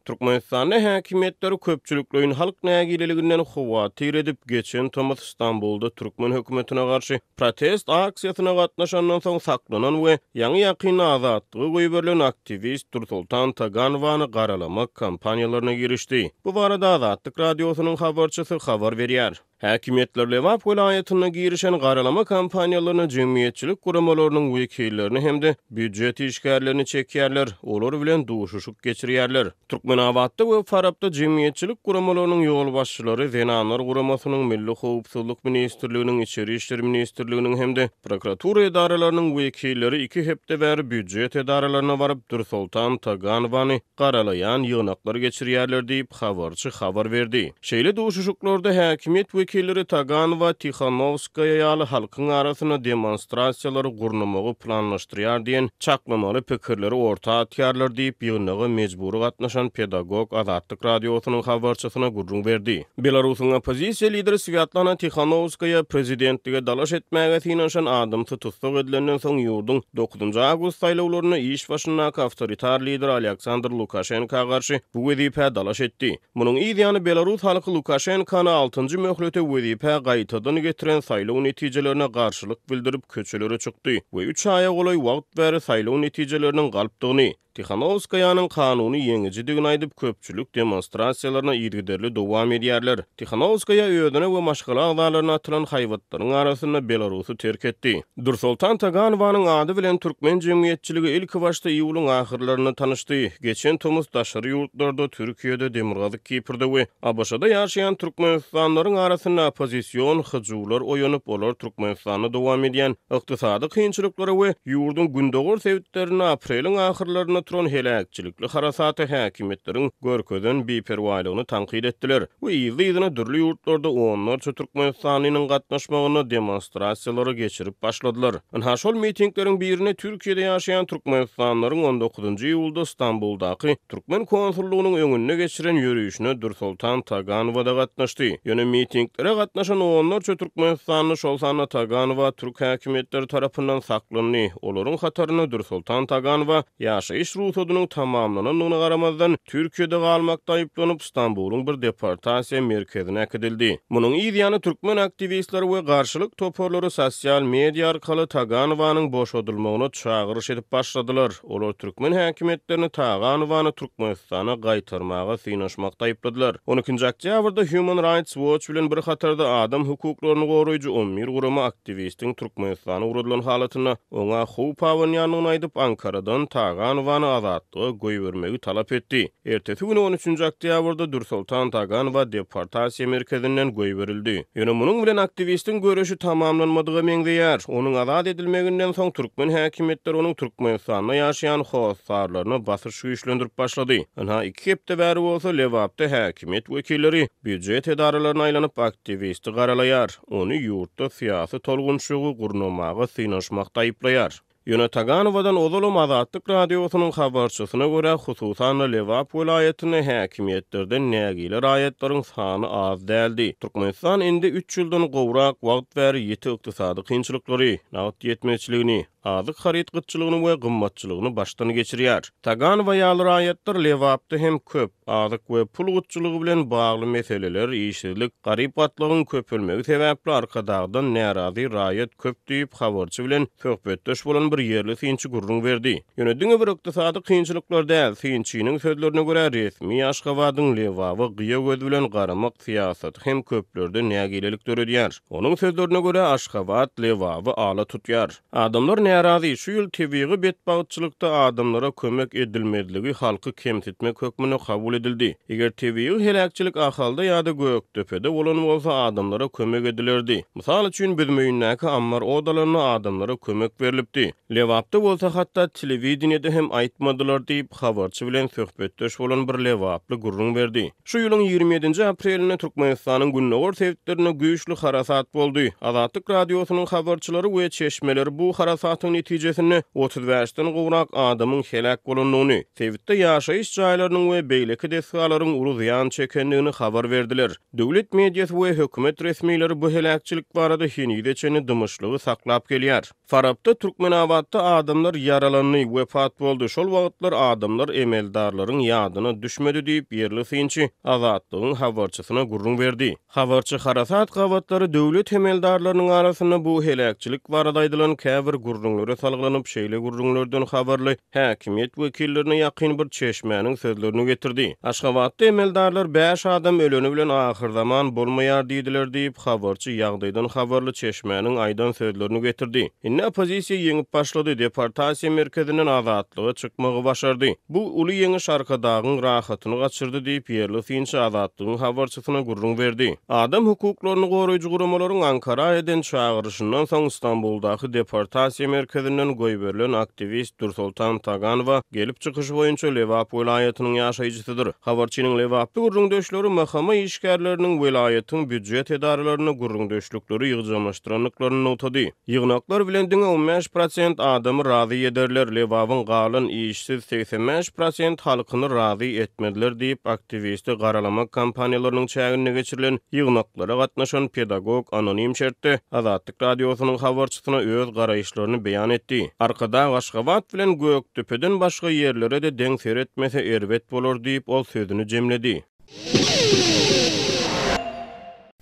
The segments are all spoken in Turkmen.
Türkmenistanda häkimiýetler köpçülikleýin halk nägileliginden howatyr edip, geçen tomus Stambulda türkmen hökümetine garşy protest aksiýasyna gatnaşandan soň saklanan we ýaňy-ýakynda azatlyga goýberilen aktiwist Dursoltan Taganowany garalamak kampaniýalaryna girişdi. Bu barada Azatlyk Radiosynyň habarçysy habar berýär. Häkimiýetler Lebap welaýatynda girişen garalama kampaniýalaryna jemgyýetçilik guramalarynyň wekillerini hem-de býujet işgärlerini çekýärler, olar bilen duşuşyk geçirýärler. Türkmenabatda we Farapda jemgyýetçilik guramalarynyň ýolbaşçylary Zenanlar guramasynyň, Milli howpsuzlyk ministrliginiň, Içeri işler ministrliginiň hem-de prokuratura edaralarynyň wekilleri iki hepde bäri býujet edaralaryna baryp, Dürsoltan Taganowany garalaýan ýygnaklar geçirýärler diýip, habarçy habar berdi. Şeýle duşuşyklarda häkimiýet wekilleri Tagan we Tihanowskaýa ýaly halkyň arasynda demonstrasiýalary gurnamagy planlaşdyrýar diýen çaklamaly pikirleri orta atýarlar diýip, ýygnaga mejbury gatnaşan pedagog Azatlyk Radiosynyň habarçysyna gürrüň berdi. Belarusyň oppozisiýa lideri Swýatlana Tihanowskaýa prezidentlige dalaş etmäge synanyşan adamsy tussag edilenden soň ýurduň dokuzynjy awgust saýlawlarynda iş başyndaky awtoritar lider Alýaksandr Lukaşenka garşy bu wezipä dalaş etdi. Munuň yz ýany belarus halky Lukaşenkany altynjy möhlete wezipä gaýtadan getiren saýlaw netijelerine garşylyk bildirip köçelere çykdy we üç aýa golaý wagt bäri saýlaw netijeleriniň galpdygyny Tihanowskaýanyň kanuny ýeňijidigini aýdyp, köpçülik demonstrasiýalaryna yzygiderli dowam edýärler. Tihanowskaýa özüne we maşgala agzalaryna atylan haýbatlaryň arasynda Belarusy terk etdi. Dursoltan Taganowanyň ady bilen türkmen jemgyýetçiligi ilkibaşda iýulyň ahyrlarynda tanyşdy. Geçen tomus daşary ýurtlarda, Türkiýede, Demirgazyk Kiprde we ABŞ-da ýaşaýan türkmenistanlylaryň arasynda oppozision hyjuwlar oýanyp, olar Türkmenistanda dowam edýän ykdysady kynçylyklara we ýurduň gündogar sebitlerinde apreliň ahyrlarynda turan heläkçilikli harasata häkimiýetleriň görkezen biperwaýlygyny tankyt etdiler we yzly-yzyna dürli ýurtlarda onlarça türkmenistanlynyň gatnaşmagynda demonstrasiýalary geçirip başladylar. Ynha, şol mitingleriň birine Türkiýede ýaşaýan türkmenistanlylaryň on dokuzynjy iýulda Stambuldaky Türkmen konsullygynyň öňünde geçiren ýörişine Dürsoltan Taganowa-da gatnaşdy. Ýöne mitinglere gatnaşan onlarça türkmenistanly, şol sanda Taganowa türk häkimiýetleri tarapyndan saklandy. Olaryň hatarynda Dürsoltan Taganowa ýaşaýyş rugsadynyň tamamlanandygyna garamazdan, Türkiýede galmakda aýyplanyp, Stambulyň bir deportasiýa merkezine äkidildi. Munuň yz ýany türkmen aktiwistleri we garşylyk toparlary sosial media arkaly Taganowanyň boşadylmagyna çagyryş edip başladylar. Olar türkmen häkimiýetlerini Taganowany Türkmenistana gaýtarmaga synanyşmakda aýypladylar. On ikinji oktýabrda Human Rights Watch bilen bir hatarda adam hukuklaryny goraýjy on bir gurama aktiwistiň Türkmenistana ugradylan halatynda oňa howp abanýandygyny aýdyp, Ankaradan Taganowany azatlyga goýbermegi talap etdi. Ertesi gün on üçünji oktýabrda Dürsoltan Taganowa deportasiýa merkezinden goýberildi. Ýöne munuň bilen aktiwistiň göreşi tamamlanmadyga meňzeýär. Onuň azat edilmeginden soň türkmen häkimiýetleri onuň Türkmenistanda ýaşaýan hossarlaryna basyş güýçlendirip başlady. Ynha, iki hepde bäri bolsa Lebapda häkimiýet wekilleri býujet edaralaryna aýlanyp, aktiwisti garalaýar, ony ýurtda syýasy tolgunçygy gurnamaga synanyşmakda aýyplaýar. Ýöne Taganowadan ozalam Azatlyk Radiosynyň habarçysyna görä, hususan-da, Lebap welaýatynda häkimiýetlerden nägile raýatlaryň sany az däldi. Türkmenistan indi üç ýyldan gowrak wagt bäri ýiti ykdysady kynçylyklary, nagt ýetmezçiligini, azyk haryt gytçylygyny we gymmatçylygyny başdan geçirýär. Tagan we ýaly raýatlar Lebapda hem köp. Azyk we pul gytçylygy bilen bagly meseleler, işsizlik, garyp gatlagyň köpelmegi sebäpli Arkadagdan närazy raýat köp diýip, habarçy bilen söhbetdeş bolan bir ýerli synçy gürrüň berdi. Ýöne diňe bir ykdysady kynçylyklar däl, synçynyň sözlerine görä, resmi Aşgabadyň Lebaba gyýa göz bilen garamak syýasaty hem köplerde nägilelik döredýär. Onuň sözlerine görä, Aşgabat Lebaby ala tutýar. Adamlar närazy, şu ýyl tebigy betbagtçylykda adamlara kömek edilmezligi halky kemsitmek hökmünde kabul edildi. Eger tebigy heläkçilik Ahalda ýa-da Gökdepede bolan bolsa, adamlara kömek edilerdi. Mysal üçin, Büzmeýindäki ammar ot alanda adamlara kömek berlipdi. Lebapda bolsa hatda telewideniýede hem aýtmadylar diýip, habarçy bilen söhbetdeş bolan bir lebaply gürrüň berdi. Şu ýylyň ýigrimi ýedinji aprelinde Türkmenistanyň gündogar sebitlerinde güýçli harasat boldy. Azatlyk Radiosynyň habarçylary we çeşmeleri bu harasatyň netijesinde otuz bäşden gowrak adamyň heläk bolandygyny, sebitde ýaşaýyş jaýlarynyň we beýleki desgalaryň uly zyýan çekendigini habar berdiler. Döwlet mediasy we hökümet resmileri bu heläkçilik barada henize çenli dymyşlygy saklap gelýär. Farapda, Türkmenabatda adamlar ýaralandy, wepat boldy. Şol wagtlar adamlar emeldarlaryň ýadyna düşmedi diýip, ýerli synçy Azatlygyň habarçysyna gürrüň berdi. Habarçy harasat gabatlary döwlet emeldarlarynyň arasynda bu heläkçilik barada aýdylan käbir gürrüňlere salgylanyp, şeýle gürrüňlerden habarly Häkimiýet wekillerine ýakyn bir çeşmäniň sözlerini getirdi. Aşgabatda emeldarlar bäş adam öleni bilen ahyrzaman bolmaýar diýdiler diýip, habarçy ýagdaýdan habarly çeşmäniň aýdan sözlerini getirdi. Indi oppozisiýa ýeňip başlady, deportasiýa merkezinden azatlyga çykmagy başardy. Bu uly ýeňiş Arkadagyň rahatyny gaçyrdy diýip, ýerli synçy Azatlygyň habarçysyna ýolbaşçysyna gürrüň berdi. Adam hukuklaryny goraýjy guramalaryň Ankara eden çagyryşyndan soň Stambuldaky deportasiýa merkezinden goýberilen aktiwist Dürsoltan Taganowa gelip çykyşy boýunça Lebap welaýatynyň ýaşaýjysydyr. Habarçynyň lebaply gürrüňdeşleri MHM işgärleriniň welaýatyň býujet edaralaryna gürrüňdeşlikleri ýygjamlaşdyrandyklaryny nygtady. Ýygnaklar bilen diňe on bäş prosent adamy razy ederler, Lebabyň galan işsiz segsen bäş prosent halkyny razy etmezler diýip, aktiwisti garalama kampaniýalarynyň çäginde geçirilen ýygnaklara gatnaşan pedagog anonim şertde Azatlyk Radiosynyň habarçysyna öz garaýyşlaryny beýan etdi. Arkadag Aşgabat bilen Gökdepeden başga ýerlere-de deň seretmese erbet bolar diýip, ol sözüni jemledi.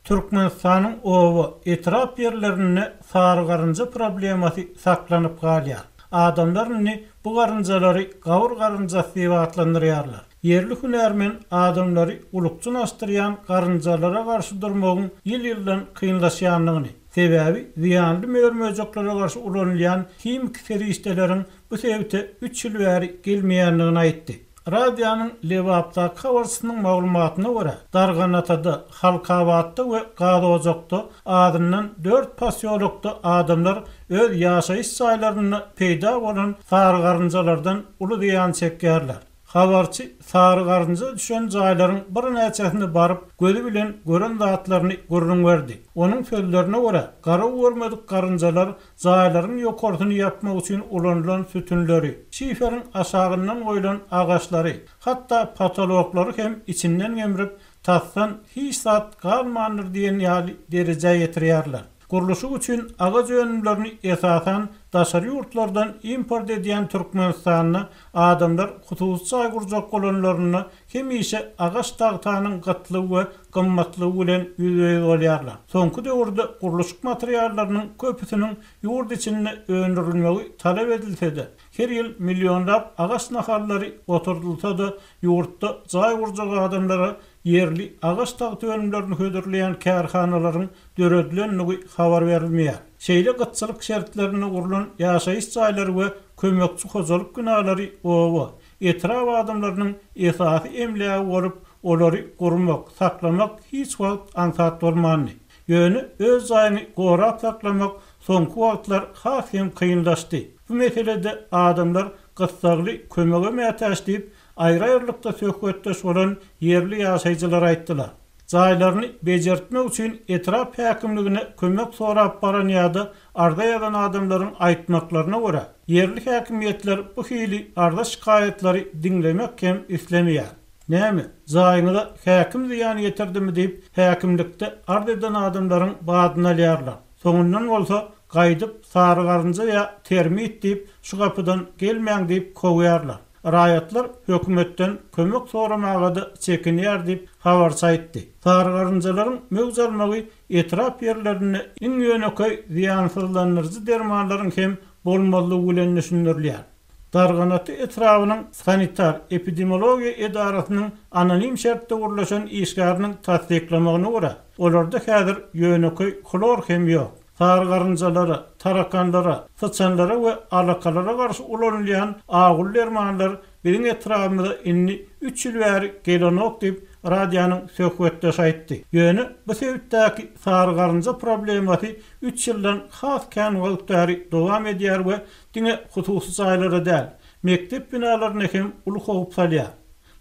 Türkmenistanyň oba, etrap ýerlerinde sary garynja problemasy saklanyp galýar. Adamlar indi bu garynjalary gawur garynjasy diýip atlandyrýarlar. Ýerli hünärmen adamlary ulukjyn asdyrýan garynjalara garşy durmagyň ýyl-ýyldan kynlaşýandygyny, sebäbi zyýanly mör-möjeklere garşy ulanylýan himiki serişdeleriň bu sebite üç ýyl bäri gelmeýändigini aýtdy. Radionyň Lebapdaky habarçysynyň maglumatyna görä, Darganatada, Halkabatda we Gazojakda azyndan dört posýolokda adamlar öz ýaşaýyş jaýlarynda peýda bolan sary garynjalardan uly zyýan çekýärler. Habarçy sary garynja düşen jaýlaryň birnäçesine baryp, gözi bilen gören zatlaryny gürrüň berdi. Onuň sözlerine görä, garawubermedik garynjalar jaýlaryň ýokarsyny ýapmak üçin ulanylan sütünleri, şiferiň aşagyndan goýlan agaçlary, hatda potoloklary hem içinden gemrip, tasdan hiç zat galmandyr diýen ýaly derejä ýetirýärler. Gurluşyk üçin agaç önümlerini esasan daşary ýurtlardan import edýän Türkmenistanda adamlar hususy jaý gurjak bolanlarynda hemişe agaç tagtanyň gytlygy we gymmatlygy bilen ýüzbe-ýüz bolýarlar. Soňky döwürde gurluşyk materiallarynyň köpüsiniň ýurt içinde öndürilmegi talap edilse-de, her ýyl millionlap agaç nahallary oturdylsa-da, ýurtda jaý gurjak adamlara ýerli agaç tagta önümlerini hödürleýän kärhanalaryň döredilendigi habar berilmeýär. Şeýle gytçylyk şertlerinde gurlan ýaşaýyş jaýlary we kömekçi hojalyk binalary oba, etrap adamlarynyň esasy emlägi bolup, olary gurmak, saklamak hiç wagt aňsat bolmandy. Ýöne öz jaýyňy gorap saklamak soňky wagtlar has hem kynlaşdy. Bu meselede adamlar gyssagly kömege mätäç diýip, aýry-aýrylykda söhbetdeş bolan ýerli ýaşaýjylar aýtdylar. jaýlaryny bejertmek üçin etrap häkimligine kömek sorap baran ýa-da arza ýazan adamlaryň aýtmaklaryna görä, ýerli häkimiýetler bu hili arza-şikaýatlary diňlemek hem islemeýär. Näme, jaýyňyza häkim zyýan ýetirdimi diýip, häkimlikde arz eden adamlaryň badyny alýarlar. Soňundan bolsa, gaýdyp, sary garynja ýa termit diýip, şu gapydan gelmäň diýip kowýarlar. Raýatlar hökümetden kömek soramaga-da çekinýär diýip, habarçy aýtdy. Sary garynjalaryň möwç almagy etrap ýerlerinde iň ýönekeý zyýansyzlandyryjy dermanlaryň hem bolmazlygy bilen düşündirilýär. Darganaty etrabynyň sanitar-epidemiologiýa edarasynyň anonim şertde gürleşen işgäriniň tassyklamagyna görä, olarda häzir ýönekeý hlor hem ýok. Sary garynjalara, tarakanlara, syçanlara we alakalara garşy ulanylýan agyl dermanlar biziň etrabymyza indi üç ýyl bäri gelenok diýip, radionyň söhbetdeşi aýtdy. Ýöne bu sebitdäki sary garynja problemasy üç ýyldan has kän wagt bäri dowam edýär we diňe hususy jaýlara däl, mekdep binalaryna hem uly howp salýar.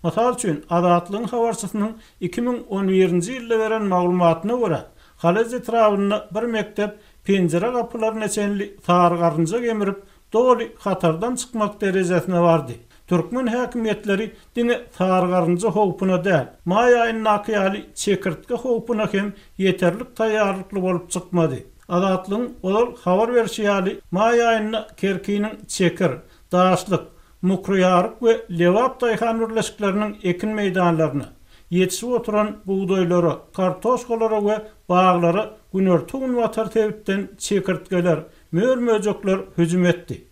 Mysal üçin, Azatlygyň habarçysynyň iki müň on birinji ýylda beren maglumatyna görä, Halez etrabynda bir mekdep penjire-gapylaryna çenli sary garynja gemirip, doly hatardan çykmak derejesine bardy. Türkmen häkimiýetleri diňe sary garynja howpuna däl, maý aýyndaky ýaly çekirtge howpuna hem ýeterlik taýýarlykly bolup çykmady. Azatlygyň ozal habar berşi ýaly, maý aýynda Kerkiniň Çekir, Daşlyk, Mokroýaryk we Lebap daýhan birleşikleriniň ekin meýdanlaryna, ýetişip oturan bugdaýlara, kartoşkalara we baglara günorta-günbatar sebitden çekirtgeler, mör-möjekler hüjüm etdi.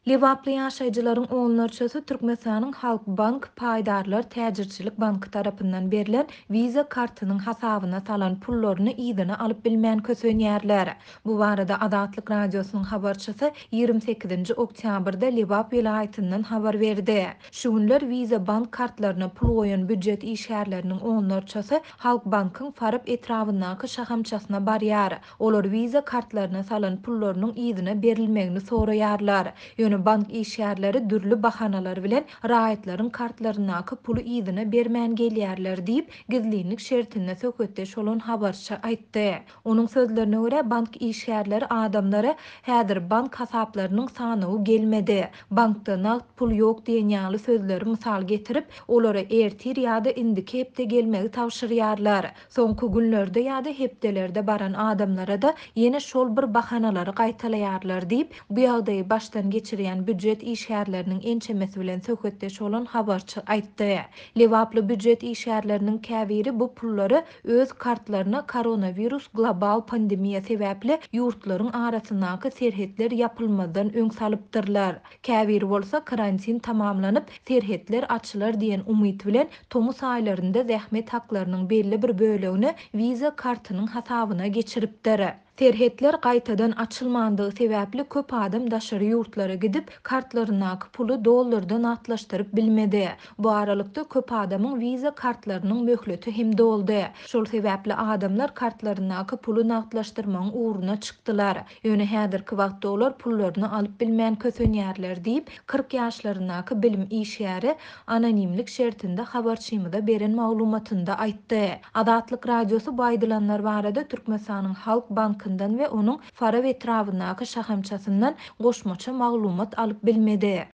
Lebaply ýaşaýjylaryň onlarçasy Türkmenistanyň Halk Bank paýdarlar täjirçilik banky tarapyndan berlen Visa kartynyň hasabyna salan pullaryny yzyna alyp bilmän kösenýärler. Bu barada Azatlyk Radiosynyň habarçysy ýigrimi sekizinji oktýabrda Lebap welaýatyndan habar berdi. Şu günler Visa bank kartlaryna pul goýan býujet işgärleriniň onlarçasy Halkbankyň Farap etrabyndaky şahamçasyna barýar. Olar Visa kartlaryna salan pullarynyň yzyna berilmegini soraýarlar. Ýöne bank işgärleri dürli bahanalar bilen raýatlaryň kartlaryndaky puly yzyna bermän gelýärler diýip, gizlinlik şertinde söhbetdeş bolan habarçy aýtdy. Onuň sözlerine görä, bank işgärleri adamlara häzir bank hasaplarynyň sanawy gelmedi, bankda nagt pul ýok diýen ýaly sözleri mysal getirip, olara ertir ýa-da indiki hepde gelmegi tabşyrýarlar. Soňky günlerde ýa-da hepdelerde baran adamlara-da ýene şol bir bahanalary gaýtalaýarlar diýip, bu ýagdaýy başdan geçirýän býujet işgärleriniň ençemesi bilen söhbetdeş bolan habarçy aýtdy. Lebaply býujet işgärleriniň käbiri bu pullary öz kartlaryna koronawirus global pandemiýa sebäpli ýurtlaryň arasyndaky serhetler ýapylmazdan öň salypdyrlar. Käbiri bolsa karantin tamamlanyp, serhetler açylar diýen umyt bilen tomus aýlarynda zähmet haklarynyň belli bir bölegini Visa kartynyň hasabyna geçiripdir. Serhetler gaýtadan açylmandygy sebäpli köp adam daşary ýurtlara gidip, kartlaryndaky puly dollarda nagtlaşdyryp bilmedi. Bu aralykda köp adamyň Visa kartlarynyň möhleti hem doldy. Şol sebäpli adamlar kartlaryndaky puly nagtlaşdyrmagyň ugruna çykdylar. Ýöne häzirki wagtda olar pullaryny alyp bilmän kösenýärler diýip, kyrk ýaşlaryndaky bilim işgäri anonimlik şertinde habarçymyza beren maglumatynda aýtdy. Azatlyk Radiosy bu aýdylanlar barada Türkmenistanyň Halk bankyndan we onuň Farap etrabyndaky şahamçasyndan goşmaça maglumat alyp bilmedi.